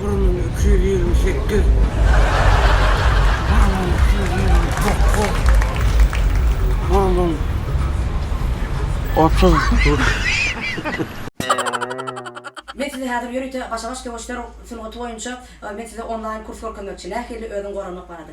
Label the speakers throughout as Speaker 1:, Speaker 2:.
Speaker 1: Bir müň iki ýüz ýigrimi sekiz, bir müň iki ýüz ýigrimi dokuz, bir müň otuz. Men size häzir ýörite başa-baş söweşler sungaty boýunça men size onlaýn kurs görkezmekçi. Nähili özüňi goramak barada.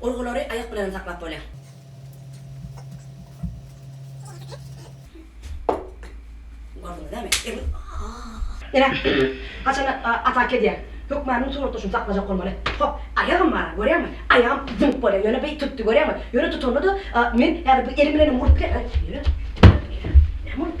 Speaker 1: Urgulary aýak bilenem saklap bolýar. Ine, haçanda atak edýär. Hökmanyň turuwatdaşyny saklajak bolmaly. Hop, aýagym bar, görýäňmi? Aýagym zynk bolýar. Ýöne beý tutdy, görýäňmi? Ýöne tutanda-da men häzir bu elim bilenem urup bilerin. Näme bolup?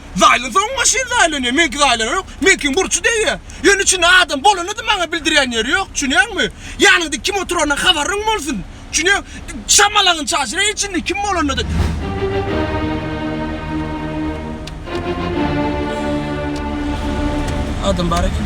Speaker 1: Zaýlasa oň maşyn zaýlanýar, meňki zaýlanok. Meňkiň burçy degýär. Ýöne içinde adam bolany-da maňa bildirýän ýeri ýok, düşünýäňmi? Ýanyňda kim oturandan habaryň bolsun. Düşünýäň, şamalaňy çaşyr-a içinde kim bolanda-da. Adam bar eken.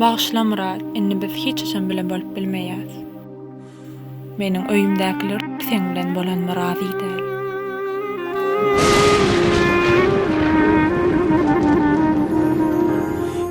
Speaker 1: Bagyşla Myrat, indi biz hiç haçan bile bolup bilmeýäs. Meniň öýümdäkiler seň bilen bolanyma razy däl.